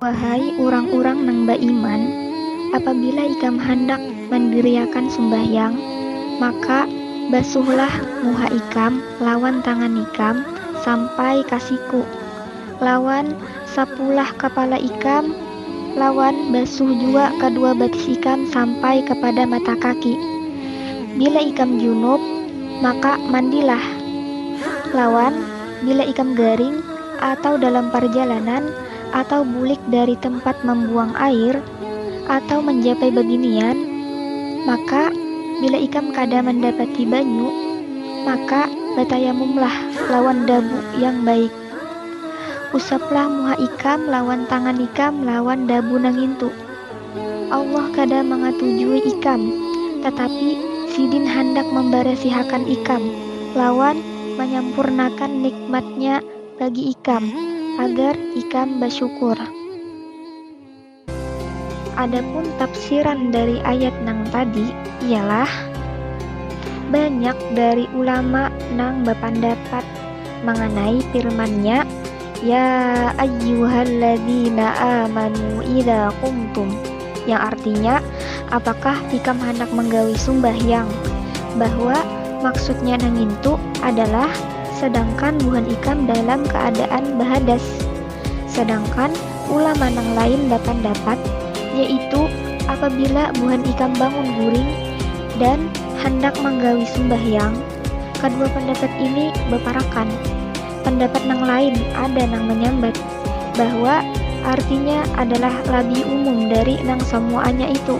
Wahai urang-urang nang baiman, apabila ikam handak mandiriakan sumbahyang, maka basuhlah muha ikam lawan tangan ikam sampai ka siku, lawan sapulah kapala ikam, lawan basuh jua kadua batis ikam sampai kapada mata kaki. Bila ikam junub, maka mandilah, lawan. Bila ikam garing, atau dalam parjalanan, atau bulik dari tempat mambuang air, atau manjapai babinian, maka, bila ikam kada mandapati banyu, maka batayamumlah lawan dabu yang baik. Usaplah muha ikam lawan tangan ikam lawan dabu nangintu. Allah kada mangatujui ikam, tatapi Sidin handak mambarasihakan ikam lawan manyampurnakan nikmat-Nya bagi ikam agar ikam basyukur. Adapun tafsiran dari ayat nang tadi ialah, banyak dari ulama nang bapandapat manganai firman-Nya, Ya ayyuhalladzina amanu idza qumtum yang artinya apakah tikam hendak menggawi sumbahyang bahwa maksudnya nangintu adalah sedangkan buhan ikam dalam keadaan bahadas sedangkan ulama nang lain dapandapat yaitu apabila buhan ikam bangun guring dan handak manggawi sumbahyang Kadua pandapat ini baparakan. Pandapat nang lain ada nang manyambat bahwa artinya adalah labih umum dari nang samuaanya itu.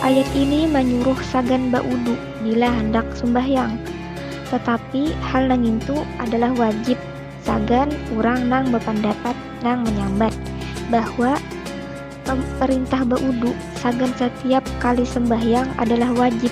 Ayat ini manyuruh sagan baudu bila handak sumbahyang. Tatapi hal nangintu adalah wajib sagan urang nang bapandapat nang manyambat bahwa perintah baudu sagan satiap kali sembahyang adalah wajib.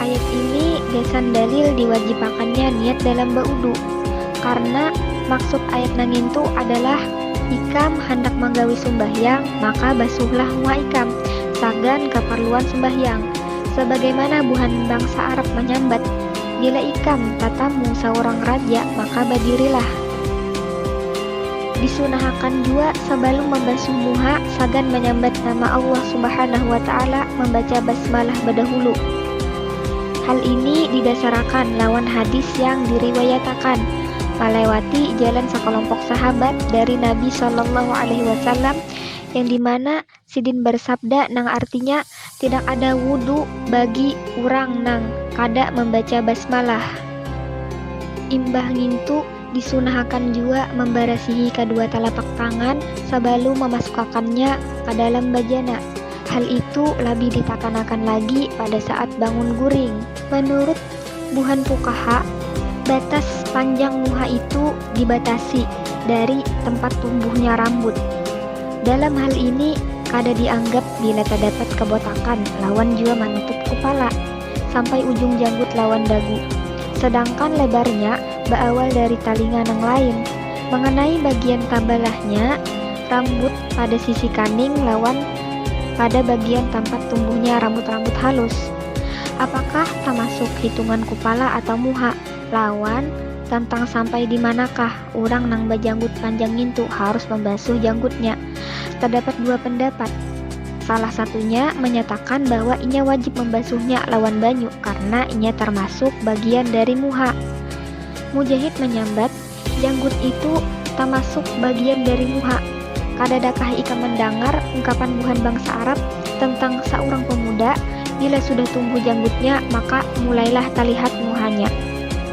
Ayat ini gasan dalil diwajibakannya niat dalam baudu. Karna, maksud ayat nangintu adalah ikam handak manggawi sumbahyang maka basuhlah muha ikam sagan kaparluan sumbahyang. Sabagaimana buhan bangsa Arab manyambat, Bila ikam tatamu saurang raja maka badirilah. Disunahakan jua sabalum mambasuh muha, Pagan manyambat nama Allah Subhanahu wa Ta'ala mambaca basmalah badahulu. Hal ini didasarakan lawan hadis yang diriwayatakan malewati jalan sakalompok sahabat dari Nabi Shallallahu Alaihi Wasallam yang dimana Sidin barsabda nang artinya, Tidak ada wudu bagi urang nang kada mambaca basmalah. Imbah ngintu, disunahakan jua mambarasihi kadua talapak tangan sabalum mamasukakannya ka dalam bajana. Hal itu labih ditakanakan lagi pada saat bangun guring. Manurut. Buhan pukaha, batas panjang muha itu dibatasi dari tempat tumbuhnya rambut. Dalam hal ini kada dianggap bila tadapat kabotakan lawan jua manutup kupala sampai ujung janggut lawan dagu. Sedangkan lebarnya baawal dari talinga nang lain. Manganai bagian tabalahnya rambut pada sisi kaning lawan pada bagian tampat tumbuhnya rambut-rambut halus. Apakah tamasuk hitungan kupala atau muha? lawan, Tantang sampai di manakah urang nang bajanggut panjang ngintu harus mambasuh janggutnya? Tadapat dua pandapat. Salah satunya manyatakan bahwa inya wajib mambasuhnya lawan banyu karna inya tarmasuk bagian dari muha. Mujahid manyambat, Janggut itu tamasuk bagian dari muha. Kadadakah ikam mandangar ungkapan buhan bangsa Arab tentang saurang pemuda, bila sudah tumbuh janggutnya maka mulailah talihat muhanya.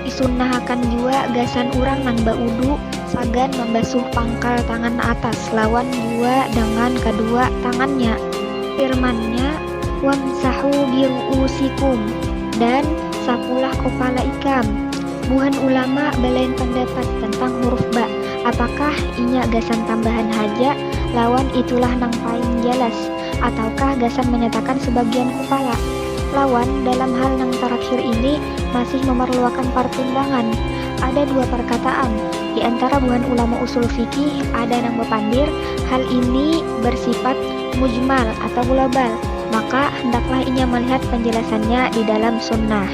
Disunnahakan jua gasan urang nang baudu sagan mambasuh pangkal tangan atas lawan jua dangan kadua tangannya. Firman-Nya. Wamsahu biru'uusikum, dan sapulah kopala ikam. Buhan ulama balain pandapat tentang huruf ba, apakah inya gasan tambahan haja lawan itulah nang paing jalas, ataukah gasan manyatakan sabagian kopala. Lawan, dalam hal nang tarakhir ini masih mamarluakan partimbangan. Ada dua parkataan, di antara buhan ulama usul fikih ada nang bapandir hal ini barsifat Mujmal atau global, maka hendaklah inya malihat panjalasannya di dalam Sunnah.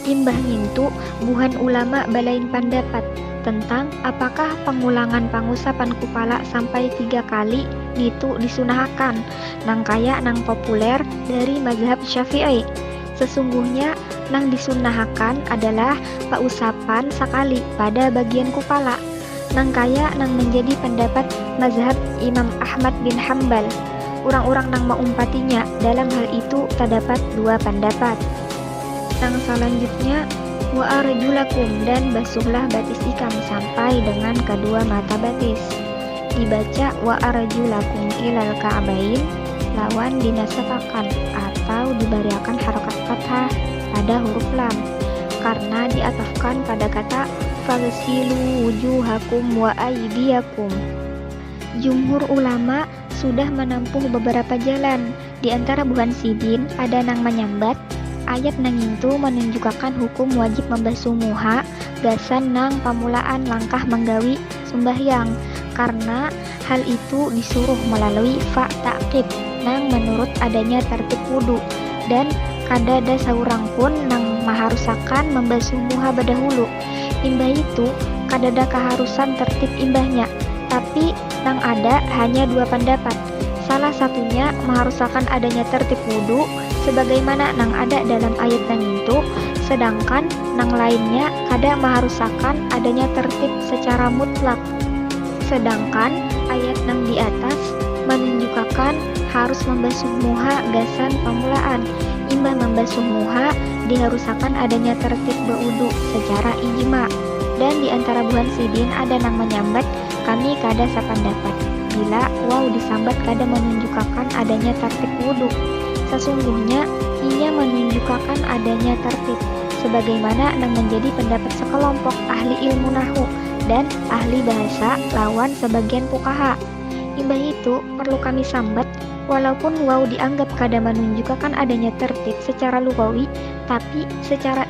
Imbah ngintu, buhan ulama balain pandapat tentang apakah pangulangan pangusapan kupala sampai tiga kali nitu disunahakan, nang kaya nang populer dari mazhab Syafi'i. Sesungguhnya nang disunnahakan adalah pausapan sakali pada bagian kupala. nangkaya nang manjadi pandapat mazhab Imam Ahmad bin Hambal. Urang-urang nang maumpatinya dalam hal itu tadapat dua pandapat. Nang salanjutnya, Waarjulakum dan basuhlah batis ikam sampai dengan kadua mata batis. Dibaca waarjulakum ilal ka'bain lawan dinasapakan atau dibariakan harakat fathah. pada huruf lam karna diatafkan pada kata fagsilu wujuhakum wa aydiakum. Jumhur ulama sudah manampuh babarapa jalan, di antara buhan sidin ada nang manyambat ayat nangintu manunjukakan hukum wajib mambasuh muha gasan nang pamulaan langkah manggawi sumbahyang karna hal itu disuruh malalui fa ta'qib nang manurut adanya tartib wudu dan kadada saurang pun nang maharusakan mambasuh muha badahulu imbah itu kadada kaharusan tartib imbahnya tapi nang ada hanya dua pandapat. Salah satunya maharusakan adanya tertib wudu sebagaimana nang ada dalam ayat nangintu, sedangkan nang lainnya kada maharusakan adanya tertib secara mutlak. Sedangkan ayat nang di atas manunjukakan harus mambasuh muha gasan pamulaan, imbah mambasuh muha diharusakan adanya tertib bawudu secara ijma. Dan di antara buhan sidin ada nang manyambat Kami kada sapandapat bila waw disambat kada manunjukakan adanya tartib wudu. Sasungguhnya, inya manunjukakan adanya tartib, sebagaimana nang manjadi pandapat sakalompok ahli ilmu nahwu dan ahli bahasa lawan sabagian puqahaa. Imbahitu, parlu kami sambat, walaupun waw dianggap kada manunjukakan adanya tartib sacara lughawi, tapi sacara.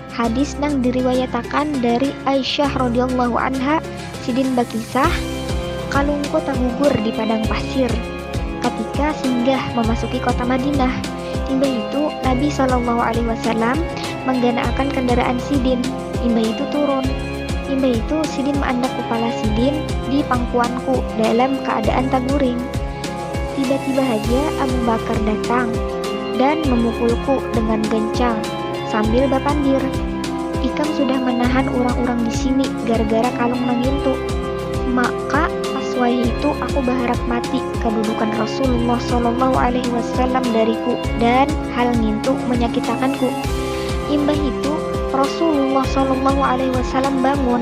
Hadis nang diriwayatakan dari Aisyah radhiyallahu anha sidin bakisah, Kalungku tagugur di padang pasir katika singgah mamasuki kota Madinah. Imbah itu Nabi sallallahu alaihi wasallam mangganaakan kandaraan sidin, imbah itu turun. Imbah itu sidin maandak kupala sidin di pangkuanku dalam kaadaan taguring. Tiba-tiba haja Abu Bakar datang dan memukulku dengan gencang sambil bapandir, Ikam sudah manahan urang-urang di sini gara-gara kalung nang ngintu. Maka pas wayah itu aku baharap mati kadudukan Rasulullah Shallallahu Alaihi Wasallam dariku dan hal ngintu manyakitakanku. Imbah itu Rasulullah Shallallahu Alaihi Wasallam bangun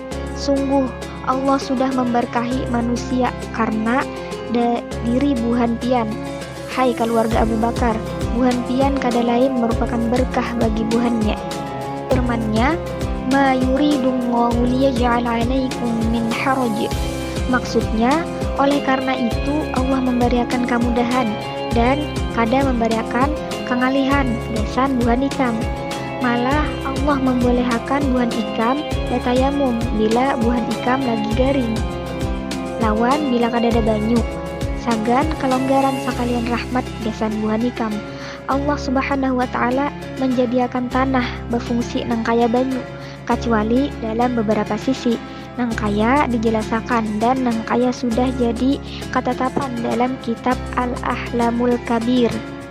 Sungguh, Allah sudah memberkahi manusia karna da diri buhan pian. Hai kaluarga Abu Bakar, buhan pian kada lain merupakan berkah bagi buhannya. Firman-Nya, Ma yuridullahu liyaj'al 'alaikum min haraj. Maksudnya, oleh karna itu Allah membariakan kamudahan dan kada membariakan kangalihan gasan buhan ikam. Malah, Allah mambolehakan buhan ikam batayamum bila buhan ikam lagi garing lawan bila kadada banyu, sagan kalonggaran sakalian rahmat gasan buhan ikam. Allah Subhanahu wa Ta'ala manjadiakan tanah bafungsi nang kaya banyu, kacuali dalam babarapa sisi, nang kaya dijalasakan dan nang kaya sudah jadi katatapan dalam kitab Al-Ahlamul Kabiir.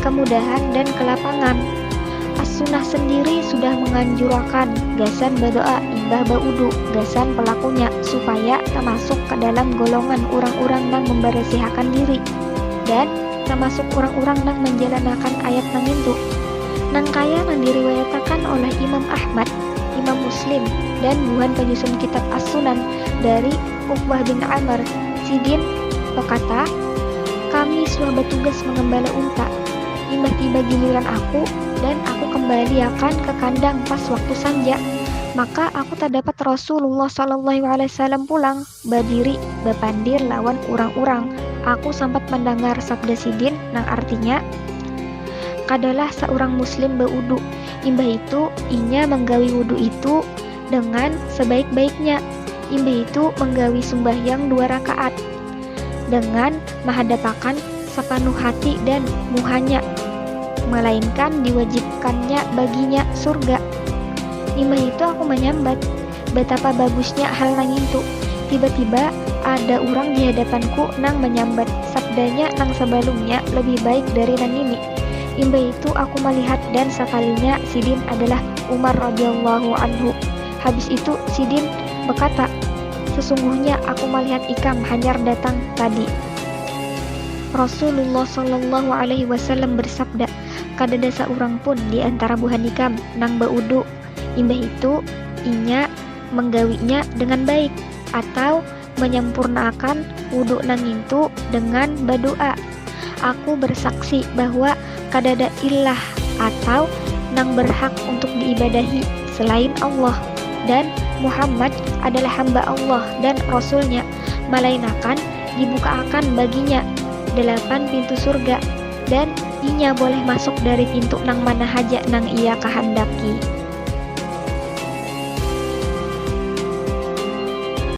kemudahan dan kelapangan. As-Sunnah sendiri sudah menganjurakan gasan berdoa imbah baudu gasan pelakunya supaya termasuk ke dalam golongan orang-orang nang memberesihakan diri dan termasuk orang-orang nang menjalanakan ayat nangintu. Nang kaya nang diriwayatakan oleh Imam Ahmad, Imam Muslim, dan buhan penyusun kitab As-Sunan dari Uqbah bin Amr, Sidin, bakata, Kami suah batugas mangambala unta, imbah tiba giliran aku dan aku kambaliakan ka kandang pas waktu sanja, maka aku tadapat Rasulullah shallallahu alaihi wasallam pulang badiri bapandir lawan urang-urang, aku sampat mandangar sabda Sidin nang artinya, Kadalah saurang Muslim bawudu, imbah itu inya manggawi wudu itu, dengan sebaik-baiknya, imbah itu manggawi sumbahyang dua rakaat dengan mahadapakan sapanuh hati dan muhanya, malainkan diwajibkannya baginya surga. Imbah itu aku manyambat, batapa bagusnya hal nangintu, tiba-tiba ada urang di hadapanku nang manyambat, sabdanya nang sabalumnya labih baik dari nangini. Imbah itu aku malihat dan sakalinya sidin adalah Umar radhiyallahu anhu. Habis itu sidin bakata, Sesungguhnya aku malihat ikam hanyar datang tadi. Rasulullah sallallahu alaihi wasallam bersabda, Kadada saurang pun di antara buhan ikam nang baudu, imbah itu inya manggawinya dengan baik, atau menyempurnaakan wudu nang ngintu dengan badu'a. Aku bersaksi bahwa kadada illah atau nang berhak untuk diibadahi selain Allah, dan Muhammad adalah hamba Allah dan Rasul-Nya, malainakan dibukaakan baginya dalapan pintu surga, dan inya boleh masuk dari pintu nang mana haja nang ia kahandaki.